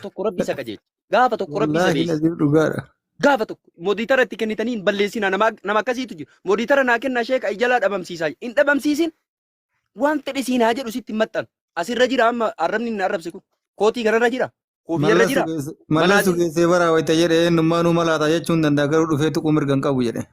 tokko rabbi isa qajeelcha. Gaafa tokko rabbi isa Wallaahi beeksisa. Naziif dhugaadha. Gaafa tokko mooditara itti kennitanii hin balleessinaa nama nama akkasiitu jiru. Mooditara naa kennaa sheeka ijalaa dhabamsiisaa hin dhabamsiisin Waan fedhe siin haa jedhu sitti hin maxxanu. Asirra jira amma arrabni inni arrabse kun. Kootii kanarra jira. Koofiyarra Mallas jira. sugeesse- Mallas Malaatiin. sugeessee baraa wayita jedhe eenyummaa nu malaataa jechuun danda'a garuu dhufee tuquu mirga hin qabu jedhe.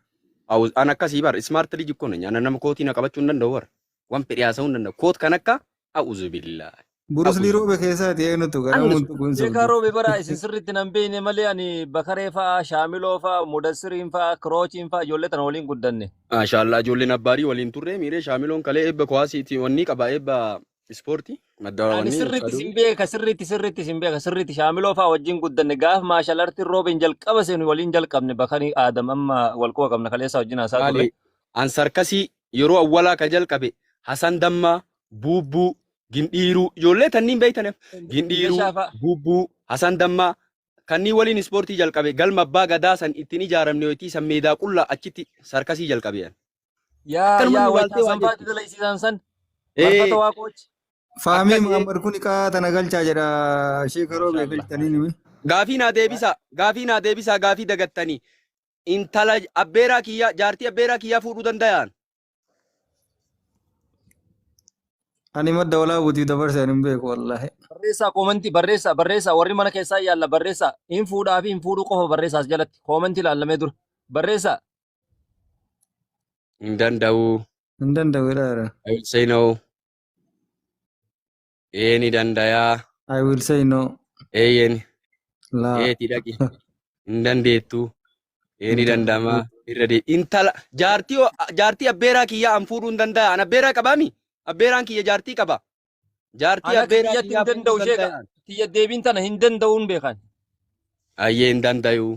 Awus an akkasii bar smart liji kun nyaana nama kootii na qabachuu hin danda'u bar. Waan fedhe haasa'uu hin danda'u. Koot kan akka a'uzu billaahi. Burus Lii Roobe keessaati eenyutu gara Annis multu kun beekaa sobdu. roobe bara isin sirriitti nan beekne malee ani bakaree fa'aa shaamiloo fa'aa mudassiriin fa'aa kiroochiin fa'aa ijoollee tana waliin guddanne. Maashaallah ijoolleen abbaarii waliin turre miiree shaamiloon kalee eebba kuwaasiiti wannii qaba eebba ispoortii madda Ani wannii sirriitti Abshaaduu. isin beeka sirriitti sirriitti isin beeka sirriitti shaamiloo fa'aa wajjin guddanne gaaf maashal artiin roobeen jalqaba seenu waliin jalqabne bakanii aadam amma wal quba qabna kaleessaa wajjin haasaa turre. Maali an sarkasii yeroo awwalaa ka jalqabe Hasan Dammaa buubbuu gindhiiruu ijoollee tanniin beeytaneef gindhiiruu Meeshaafaa. buubbuu hasan dammaa kanneen waliin ispoortii jalqabe galma abbaa gadaa san ittiin ijaaramne wayitii san meedaa qullaa achitti sarkasii jalqabean Yaa akkanuma yaa nu waytaa laaltee waa sanfaatti jechuudha. dalaysiisaan san Ee, marfata waaqoochi. Faamii Akkas- Muhammad kun iqaa tana galchaa jedha sheeka roobee Mashallah. galchitanii nimi. gaafii naa deebisaa gaafii naa deebisaa gaafii dagattanii intala abbeeraa kiyyaa jaartii abbeeraa kiyyaa fuudhuu dandayaan Ani madda walaa buutii dabarse ani hin beeku wallaahi. Barreessaa koomentii barreessaa barreessaa warri mana keessaa yaalla barreessaa hin fuudhaa fi hin fuudhuu qofa barreessaas jalatti koomentii ilaallamee dura barreessaa Hin danda'u. Hin danda'u jedhaa jira. I will say no. Ee ni dandayaa. I will say no. Eeyyeen. Laa. Eeti dhaqi. Hin dandeettu. Ee ni danda'ama. Irra dee. Intala jaartii o- jaartii abbeeraa kiyyaa an fuudhuu hin danda'a. An abbeeraa qabaami? Abbeeraan kiyya jaartii qaba. Jaartii Ana akka abbeeraa kiyyatti kiyyaa hin fuudhuu danda'u hin sheeka. danda'an. Tiyya deebiin tana hin danda'uun beekan. Ayyee hin dandayu.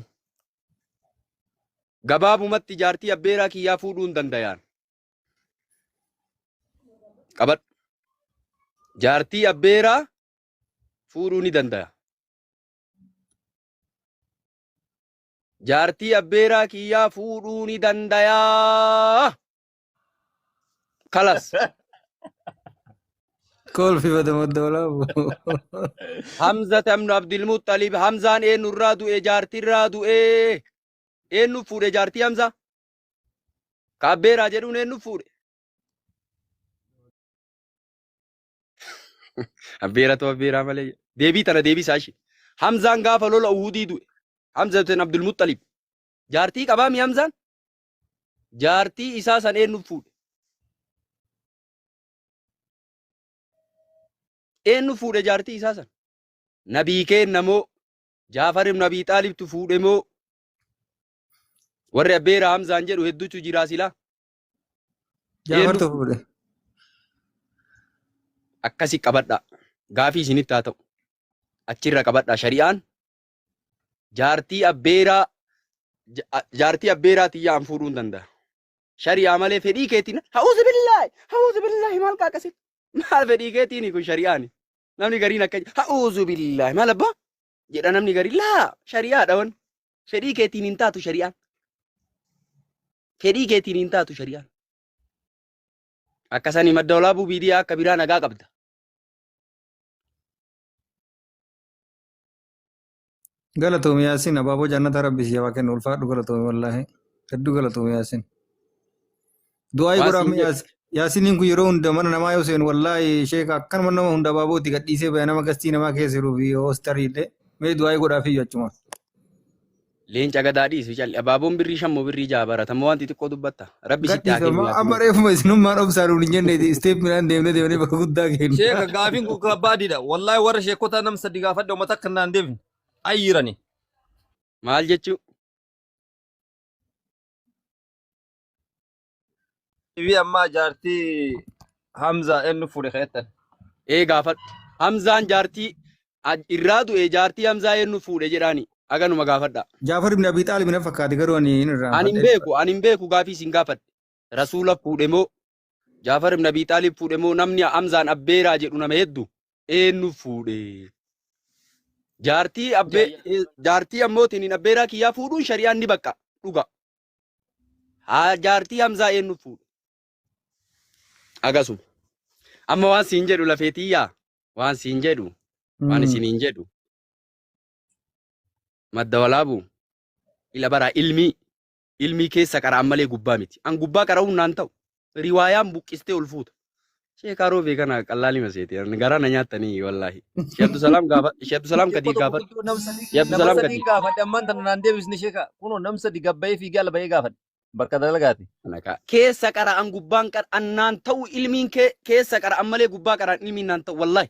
Gabaabumatti jaartii abbeeraa kiyyaa fuudhuu hin danda'an. qabadhu jaartii abbeeraa fuudhuu ni danda'a jaartii abbeeraa kiyyaa fuudhuu ni dandayaa kalas Kolfi badama dawlaabu. hamza tamnu abdilmuxalib hamzaan eenyu irraa du'e jaartii irraa du'e eenyu fuudhe jaartii hamza Ka abbeeraa jedhuun eenyu fuudhe? Abbeeratu abbeeraa malee. jedhe. Deebii tana deebisaa ishee. Hamzaan gaafa lola Uhudii du'e. Hamza bin Abdul Muxxalib. Jaartii qabaa mi Hamzaan? Jaartii isaa san eenyu fuudhe? Eenyu fuudhe jaartii isaa san? Nabii keenna moo? Jaafar ibn Abii Xaalibtu fuudhe moo? Warri abbeera Hamzaan jedhu hedduutu jira silaa. Jaafartu Eenyu? fuudhe. Akkasi qabadha. Gaafii isinitti haa ta'u. Achirra qabadha shari'aan. Jaartii abbeeraa ja- a- jaartii abbeeraa tiyyaa an fuudhuu hin danda'a. Shari'aa malee fedhii keetiin hawuusi billaahi hawuusi billaahi maal qaaqasin maal fedhii keetiin kun shari'aani. Namni gariin akka hawuusu billaahi maal abbaa jedha namni gari laa shari'aadha wan fedhii keetiin hin taatu shari'aan fedhii keetiin hin taatu shari'aan akkasanii madda olaabuu biidiyaa akka biraa nagaa qabda Galatoomi Yaasin abaaboo jannata rabbi siyaa waa kennu ulfaadhu galatoomi wallaahi hedduu galatoomi Yaasin. Du'aa Waa godhaa siin mee jedhe. yaas- yaasiniin kun yeroo hunda mana namaa yoo seenu wallaahi sheeka akkanuma nama hunda baabooti gadhiisee baya nama gastii namaa keessa jiruu fi hoostarii illee mee du'aa godhaa fi achuma. Leenca gadaa dhiisu calli. Abaaboon birrii shan moo birrii jaha barata moo wanti xiqqoo dubbatta. Rabbi sitti haa Gadhiisa kennu amma yaasiniin. amma reefuma isinummaan obsaan nuun hin jenne isteep midhaan deemnee deemnee bakka guddaa keenya. Sheeka gaafiin kun kabbaadidha. Wallaahi warra sheekota nam sadi gaafadha uummata akka naan deebine. Ayyirani. Maal jechuu? Ibi ammaa jaartii Hamza eenyu fuudhe keettan. Ee gaafadhu. Hamzaan jaartii aj- irraa du'e jaartii Hamzaa eenyu fuudhe jedhaani. Aganuma gaafadha. Jaafar ibn Abi Xaalib na fakkaate garuu ani hin Ani hin irraanfadhe. beeku, ani hin beeku gaafii isin gaafadhe. Rasuula fuudhe moo Jaafar ibn Abi Xaalib fuudhe moo namni Hamzaan abbeeraa jedhu nama heddu eenyu fuudhe? Jaartii abbee Jayya. eh, jaartii ammootiin hin abbeeraa kiyyaa fuudhuun shari'aan ni baqqa dhuga. haa jaartii hamzaa eenyu fuudhe agasuma amma waan siin jedhu lafee tiyyaa waan siin jedhu waan isiniin jedhu madda walaabu ila baraa ilmii ilmii keessa qara'an malee gubbaa miti an gubbaa qara'uun naan ta'u riwaayaan buqqistee ol fuuta. Sheek Aroobee kana qallaali maseeti. Garaa na nyaattanii wallaahi. Sheek Abdusalaam gaafa Sheek Abdusalaam Sheekoo kadii tokko gaafa guddoo nam sadii Sheek nama Abdusalaam sadii kadii. gaafadhe ammaan tana naan deebisne sheeka kunoo nam sadi gabbayee fiigee ala bahee gaafadhe bakka dalagaati. Kana kaa. Keessa qara'an gubbaan qara'an naan ta'u ilmiin kee keessa qara'an malee gubbaa qara'an ilmiin naan ta'u wallaahi.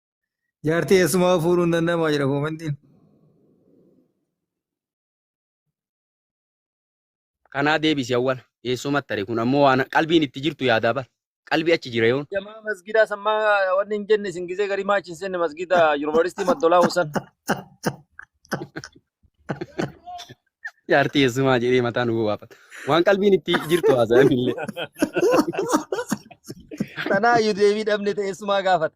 Jaartii eessumaa fuudhuu hin danda'amaa jedha koomantiin. Kanaa deebisi awwal. Eessumatti tare kun ammoo waan qalbiin itti jirtu yaadaa bar. Qalbii achi jira yoon. Jamaa masgidaa sammaa wanni hin jenne isin gisee garii maachi hin seenne masgida yuunivarsiitii maddolaa husan. Jaartii eessumaa jedhee mataa nu bobaafata. Waan qalbiin itti jirtu haasa'an illee. Tanaa iyyuu deebii dhabne ta'e eessumaa gaafata.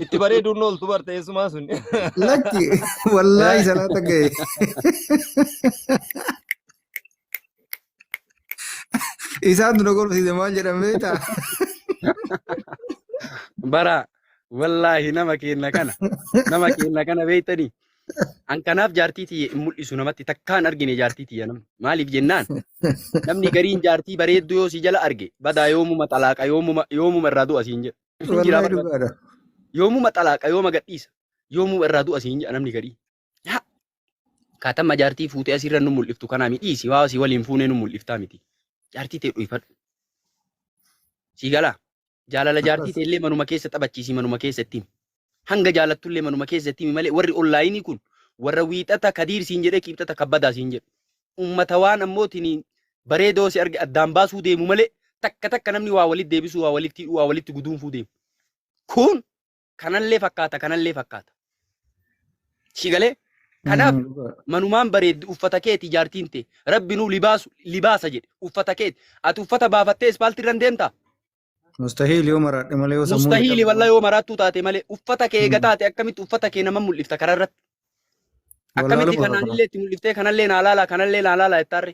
Itti bareeduun na oltu barte eessumaa sun. Lakki wallaahi salaata ga'e. Isaan dura gorsiise maal jedhamee ta'a? Bara wallaahi nama keenna kana nama keenna kana beektanii an kanaaf jaartii tiyya hin mul'isu namatti takkaan argine jaartii tiyya nama maaliif jennaan namni gariin jaartii bareedduu yoo si jala arge badaa yoomuma xalaaqa yoomuma yoomuma irraa du'a siin jedha Isin jiraa Wallahi bara. dhugaadha. Yoomuma xalaaqa yooma gadhiisa. Yoomuma irraa du'a siin jedha namni gadhii. Yaa kaatamma jaartii fuutee asirra nu mul'iftu kanaa miti dhiisi waa si waliin fuunee nu mul'iftaa miti. Jaartii tee dhuyfadhu. Sii galaa. Jaalala jaartii Akkas. tee illee manuma keessa taphachiisi manuma keessa ittiin. Hanga jaalattullee manuma keessatti himi malee warri onlaayinii kun warra wiixata kadiir siin jedhee kiibxata kabbadaa siin jedhu. Ummata waan ammootiin bareedoo si arge addaan baasuu deemu malee takka takka namni waa walitti deebisuu waa walitti hidhuu waa walitti guduunfuu deemu. Kun kanallee fakkaata kanallee fakkaata. Si galee? Kanaaf manumaan bareeddi uffata keeti jaartiin tee rabbi nuu libaasu libaasa jedhe uffata keeti ati uffata baafattee ispaaltii irra hin deemtaa Mustahiil yoo maraadhe malee yoo sammuun Mustahiili hidhame wallah yoo maraattuu taate malee uffata kee eega taate akkamitti uffata kee nama mul'ifta karaa irratti. Akkamitti wallaaluma kanaan kana. illee itti mul'iftee kanallee naa laalaa kanallee naa laalaa jettaarre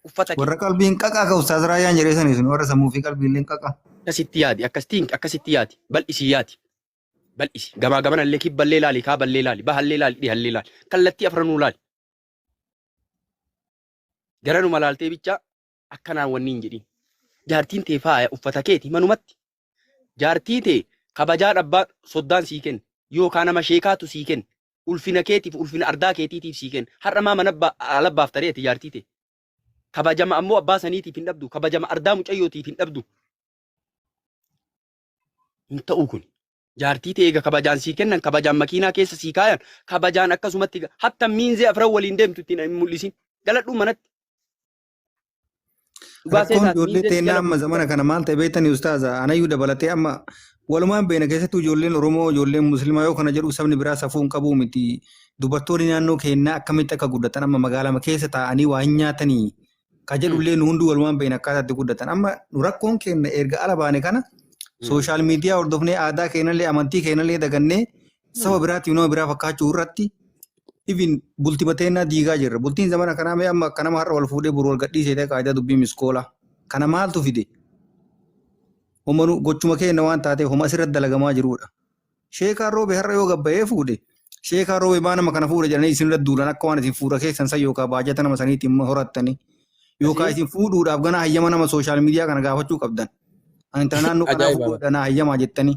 uffata kee. Warra qalbiin qaqaa ka ustaaz Raayyaan jedhee sanii sun warra sammuu fi qalbiilleen qaqaa. Akkasitti yaadi akkasitti hin- akkasitti yaadi bal'isii yaadi. Bal'isi gamaa gamana illee kibballee laali kaaballee laali bahallee laali dhihallee laali kallattii afranuu laali. Garanuma laaltee bichaa akkanaan wanni hin jedhin jaartiin tee faaya uffata keeti manumatti jaartii tee kabajaa dhabbaa soddaan sii kenne yookaan nama sheekaatu sii kenne ulfina keetiif ulfina ardaa keetiitiif sii kenne har'a maa mana ba- ala baafta re'ete jaartii tee kabajama ammoo abbaa saniitiif hin dhabdu kabajama ardaa mucayyootiif hin dhabdu hin ta'uu kun jaartii tee eega kabajaan sii kennan kabajaan makiinaa keessa sii kaayan kabajaan akkasumatti ga- hatta miinzee afran waliin deemtu ittiin hin mul'isin galadhuu manatti Dhugaa Rakkoon seetaati. ijoollee Miidhagina teennaa amma zamana kana maal ta'e beektanii ustaaza anayyuu dabalatee amma walumaan beena keessattuu ijoolleen Oromoo ijoolleen Muslimaa yoo kana jedhu sabni biraa safuu hin qabuu miti dubartoonni naannoo keennaa akkamitti akka guddatan amma magaalama keessa taa'anii waa hin nyaatanii ka Hmm. jedhullee nu hunduu walumaan beena akkaataa itti guddatan amma nu rakkoon keenna erga ala baane kana sooshaal miidiyaa hordofnee aadaa keenyallee amantii keenyallee dagannee saba biraatiif nama biraa fakkaachuu irratti even bulti mateennaa diigaa jirra. Bultiin zamana kanaa mee amma akka nama har'a wal fuudhee buru wal gadhiisee ta'e qaayidaa dubbii miskoolaa. Kana maaltu fide? Homanu gochuma keenya waan taateef homa asirratti dalagamaa jirudha. Sheekaa roobe har'a yoo gabbayee fuudhe sheekaa roobe baa nama kana fuudha jedhanii isinirra duulan akka waan isin fuudha keessan san yookaan baajata nama saniitti immoo horattanii yookaan isin fuudhuudhaaf ganaa hayyama nama sooshaal miidiyaa kana gaafachuu qabdan. Ani intala naannoo kanaa Ajaa'iba. fuudhudha naa hayyamaa jettanii.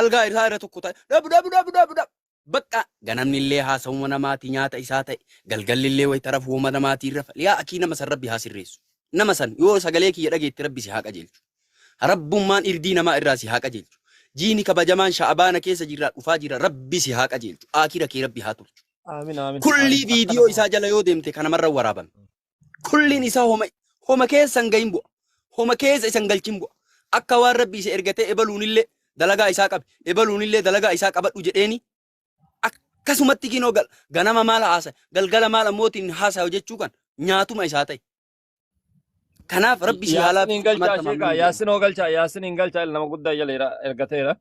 algaa isaa irra tokko ta'e dhabu dhabu dhabu dhabu dhabu. Bakka ganamni illee haasawuma namaati nyaata isaa ta'e galgalli illee wayita rafu woma namaatiin rafa yaa akii nama san rabbi haa sirreessu. Nama san yoo sagalee kiyya dhageetti rabbi si haa qajeelchu. Rabbummaan irdii namaa irraa si haa qajeelchu. Jiini kabajamaan sha'abaana keessa jirraa dhufaa jira rabbi si haa qajeelchu. Aakira kee rabbi haa tolchu. Aamin aamin. Kullii Aamin. Akkana viidiyoo kun. isaa jala yoo deemte kanamarra waraabame. kulliin isaa homa homa keessa hin gahin bu'a homa keessa isa hin galchin bu'a akka waan rabbi isa ergatee ebaluunillee dalagaa isaa qabi ebaluunillee dalagaa isaa qabadhu jedheeni akkasumatti kinoo gal ganama maal haasa galgala maal ammootiin haasaa jechuu kan nyaatuma isaa ta'e kanaaf rabbi si haalaa Yaasin hin galchaa sheekaa yaasin hoo galchaa yaasin hin galchaa nama guddaa jala jira ergateera.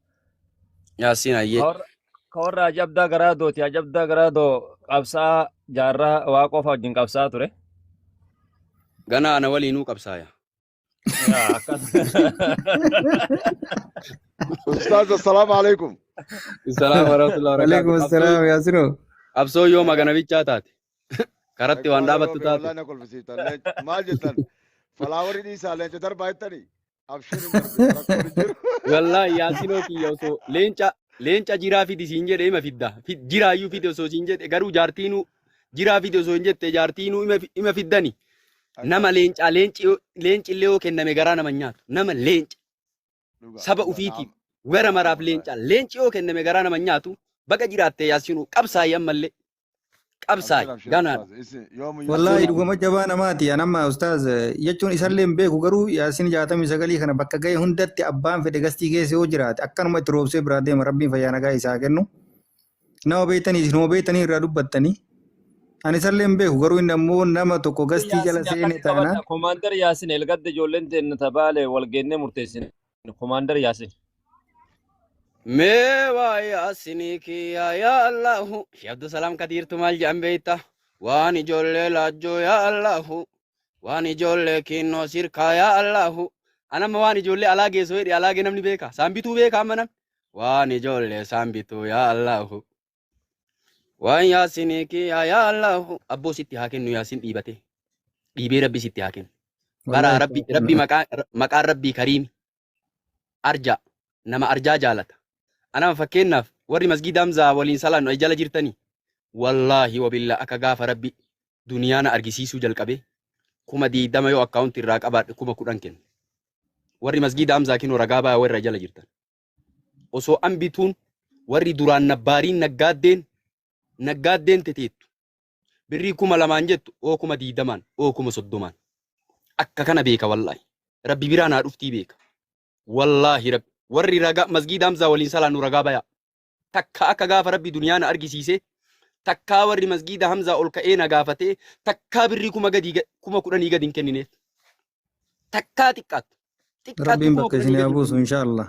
yaasin ayyee Warra- Ka warra ajabdaa garaa dooti. Ajabdaa garaa doo qabsaa jaarraa waa qofa wajjin qabsaa ture. Gana ana waliinuu qabsaaya. Yaa akkas. Ustaaz assalaamu alaikum. Salaam warahmatullahi Waalaikum wabarakatuh. assalam Qabsoo Yaasino. qabsoo yoo magana bichaa taate karatti waan Akbar dhaabattu Rabbi taate. wallahi na kolfisiiftan. Leenca- Maal jettan? Falaawarii dhiisaa leenca darbaa jettanii? Abshir hin argita rakkoon hin jiru. Wallahi yaasinoo kiyya osoo leenca leenca jiraa fidi siin jedhe ima fidda. Fi- Jiraayyuu fidi osoo siin jedhe garuu jaartiinuu jiraa fidi osoo hin jette jaartiinuu ima fi- ima fiddani. Nama Akkaas leencaa leenci yoo- leenci illee yoo kenname garaa nama hin nyaatu. Nama leenca dhugaa saba dhugaa ufiitiif naam wera naam maraaf wallaahi. leencaa leenci yoo kenname garaa nama hin nyaatu. Baga jiraatte yaasinuu qabsaayi ammallee. qabsaa'e Abshir, ganaa Abshir, Ustaaz, isin yoomuu Wallaahi Abshir. Yuusuuf dhuguma jabaa namaati. An amma ustaaz jechuun isallee hin beeku garuu yaasin jaatamii sagalii kana bakka ga'e hundatti abbaan fedhe gastii keessa yoo jiraate akkanuma itti roobsee biraa deema rabbiin fayyaa nagaa isaa kennu. Nama beektanii isin hoo beektanii irraa dubbattanii. An isallee hin beeku garuu inni ammoo nama tokko gastii jala Yaasin seene akkatti taanaan qabadha. Komaandar Yaasin Elgadda ijoolleen teenna tabaale walgeennee murteessine. Komaandar Yaasin. Mee waa yaasinii kiyya yaa Allahu. Shee Abdusalaam Kadiirtu maal jedhan beekta? Waan ijoollee laajjoo yaa Allahu. Waan ijoollee kiinnoo sirkaa yaa Allahu. Anamma waan ijoollee alaa geessoo jedhe alaa gee namni beeka. Saan bituu beeka amma namni. Waan ijoollee saan bituu yaa Allahu. Waan yaasinii kiyaa yaa Allahu. Abboo sitti haa kennu yaasin dhiibate. Dhiibee rabbi sitti haa kennu. Bara Wallahi rabbi itti rabbi maqaa maqaan rabbii kariimi. Arjaa nama arjaa jaalata. Anama fakkeenyaaf warri masgiida Hamzaa waliin salaannu ay jala jirtanii. Wallaahi wabilla akka gaafa rabbi duniyaa na argisiisuu jalqabee kuma diidama yoo akkaawunti irraa qabaadhe kuma kudhan kenna. Warri masgiida Hamzaa kinoo ragaa baya warra jala jirtan. osoo an bituun warri duraan nabbaariin naggaaddeen naggaaddeen teteettu birrii kuma lamaan jettu oo kuma diidamaan oo kuma soddomaan akka kana beeka wallaahi rabbi biraa naa dhuftii beeka wallaahi rabbi warri ragaa masgiida hamzaa waliin salaannu ragaa bayaa takka akka gaafa rabbi duniyaa na argisiise takkaa warri masgiida hamzaa ol ka'ee na gaafatee takkaa birrii kuma gadii ga- kuma kudhanii gadi hin kennineef takkaa xiqqaattu. Xiqqaattu Rabbiin kuma bakka kudha isin haa saddeetamii buusu saddeet. inshaallah.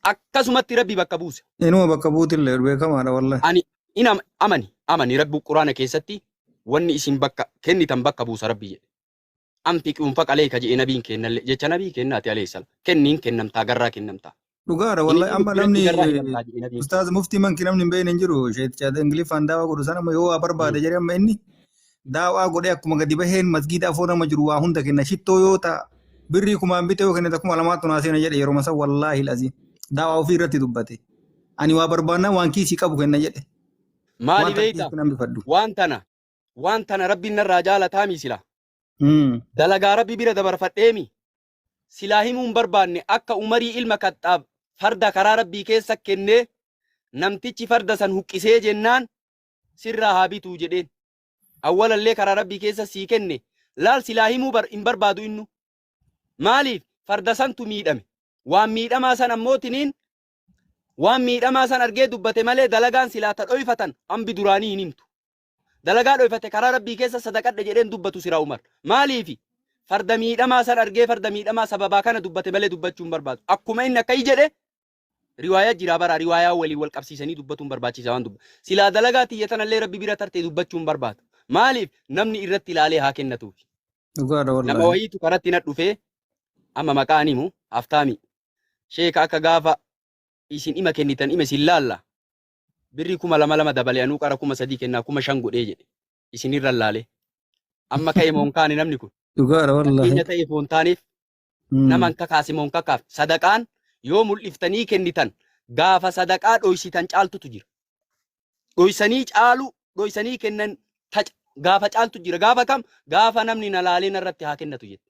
Akkasumatti rabbi bakka buusa. Inuma bakka buutillee beekamaadha wallahi. Ani in am- amani amani rabbi quraana keessatti wanni isin bakka kennitan bakka buusa rabbi jedhe. Anfiqi unfaqa leeka jedhe nabiin keennalle jecha nabii keennaati alayhi salaam. Kenniin kennamtaa garraa kennamtaa. Dhugaadha Inni wallahi amma namni namni irraa hidhamtaa jedhee na beeku. ustaaz muftii manki namni hin beekne hin jiru sheet chaat ingiliffaan daawaa godhu sana amma yoo waa barbaade jedhee amma inni daawaa godhee akkuma gadi baheen masgiida afoo nama jiru waa hunda kenna shittoo yoo ta'a birrii kumaan bitee yoo kennite kuma lamaattu naa seena jedhe yeroo masa wallaahi laziin daawaa ofii irratti dubbate ani waa barbaannaa waan kiisii qabu kenna jedhe Maali waan takka beekta? kiisitti nan bifadhu. Waan tana waan tana rabbiin narraa jaalataa miisila. Mm. Dalagaa rabbi bira dabarfadheemi. silaa himuu hin barbaanne akka Umarii ilma Kaxxaab farda karaa Rabbii keessa kennee namtichi farda san huqqisee jennaan sirraa haa bituu jedheen. Awwalallee karaa Rabbii keessa sii kenne laal silaa himuu bar hin barbaadu innu. Maaliif farda santu miidhame. Waan miidhamaa san ammoo tiniin waan miidhamaa san argee dubbate malee dalagaan silaa ta dhoyfatan ambi duraanii hin himtu. Dalagaa dhoyfatte karaa Rabbii keessa sadaqadhe jedheen dubbatu sira Umar. Maaliifi? Farda miidhamaa san argee farda miidhamaa sababaa kana dubbate malee dubbachuu hin barbaadu. Akkuma inni akkai jedhe riwaayaa jiraa bara riwaayaa waliin wal qabsiisanii dubbatuun barbaachiisa waan dubba. Silaa dalagaa tiyya tanallee Rabbi bira tarte dubbachuu hin barbaadu. Maaliif? Namni irratti ilaalee haa kennatuufi. Dhugaadha Nama wallaahi. wayiitu karatti na dhufee amma maqaa hin himu haftaami. Sheeka akka gaafa isin ima kennitan ima isin laalla. birrii kuma lama lama dabale anuu qara kuma sadii kennaa kuma shan godhee jedhe isinirra laalee amma ka'e moon kaane namni kun dhugaadha wallahi fakkeenya ta'e foon taaneef Mm. naman kakaase moon kakaaf sadaqaan yoo mul'iftanii kennitan gaafa sadaqaa dhoysitan caaltutu jira dhoysanii caalu dhoysanii kennan taca gaafa caaltu jira gaafa kam gaafa namni na laalee narratti haa kennatu jette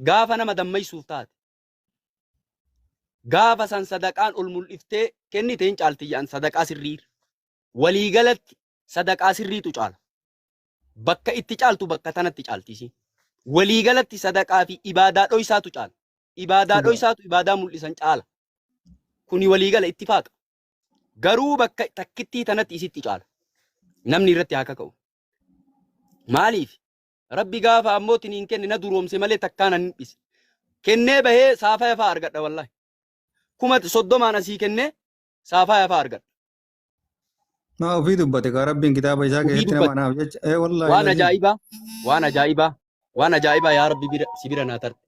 gaafa nama dammaysuuf taate gaafa san sadaqaan ol mul'iftee kennite hin caalti jedhan sadaqaa sirrii waliigalatti sadaqaa sirriitu caala bakka itti caaltu bakka tanatti caaltisi waliigalatti sadaqaa fi ibaadaa dhoysaatu caala ibaadaa Dhugaa. dhoysaatu ibaadaa mul'isan caala kuni waliigala itti faaqa garuu bakka takkittii tanatti isitti caala namni irratti haa kaka'u maaliif Rabbi gaafa ammoo tiniin kenne na duroomse malee takkaa nan hin dhise. Kennee bahee saafaa yafaa argadha wallahi. Kuma soddomaan asii kennee saafaa yafaa argadha. Maa ofii dubbate kaa rabbiin kitaaba isaa Ofii keessatti nama dubbate. anaaf jecha. Ee wallaahi Waan laziim. ajaa'ibaa, waan ajaa'ibaa, waan ajaa'ibaa yaa Rabbi bira si bira naa tarte.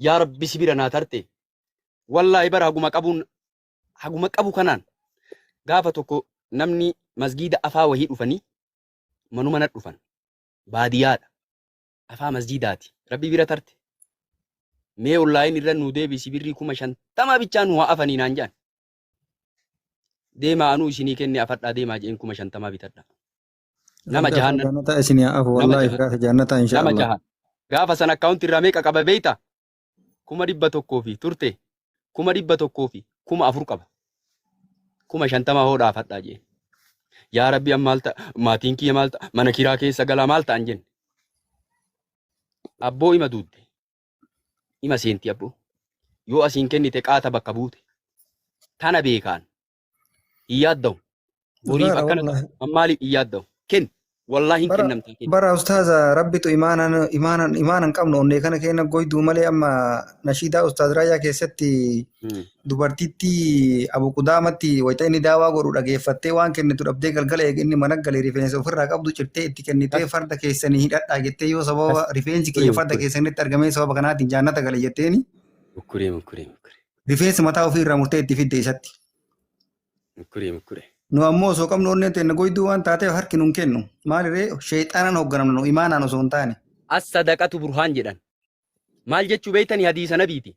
Yaa Rabbi si bira naa tarte. Wallaahi bara haguma qabuun haguma qabu kanaan gaafa tokko namni masgiida afaa wahii dhufanii manuma na dhufan. baadiyaadha afaa masjiidaati rabbi bira tarte mee online irra nuu deebisi birrii kuma shantama bichaa nuu haa afanii naan jedhan deemaa anuu isinii kenne afadhaa deemaa jeen kuma shantamaa bitadhaa nama Rabbi jahaan afaa jannataa isin haa afu nama wallaahi jahaan firaasa jannataa nama inshaa'Allah. jahaan gaafa san akkaawunti irraa meeqa qaba beeyta kuma dhibba tokkoo fi turte kuma dhibba tokkoo fi kuma afur qaba. Kuma shantama hoo dhaafadhaa jeen. Yaa rabbi an maal ta'a maatiin kiyya maal ta'a mana kiraa keessa galaa maal ta'an jenne. Abboo ima duutte ima seenti abboo. Yoo asiin kennite qaata bakka buute. Tana beekaan hin yaadda'u. Boriif Dhugaadha akkana ta'a. wallaahi. An maaliif hin yaadda'u? Ken wallaahi hin Bara kennamtee ken. bara ustaaza rabbitu imaanan imaanan imaanan qabnu onnee kana keenya goyduu malee amma nashiidaa ustaaz Raayyaa keessatti Hmm. dubartittii Abu Qudaamatti wayita inni daawaa godhu dhageeffattee waan kennitu dhabdee galgala eega inni mana galee rifeensa ofirraa qabdu cirtee itti kennitee Kas farda keessanii hidhadhaa jettee yoo kas sababa rifeensi kiyya mukkuree farda mukkuree keessanitti argamee sababa kanaatiin jaannata gale jetteeni mukkuree mukkuree mukkuree. Rifeensi mataa ofii irraa murtee itti fidde isatti. Mukkuree mukkuree. Nu ammoo osoo qabnu onneen teenna goyduu waan taateef harki nun kennu. Maaliree sheexaanaan hoogganamna nu imaanaan osoo hin taane. As sadaqatu burhaan jedhan. Maal jechuu beeytani hadiisa nabiiti.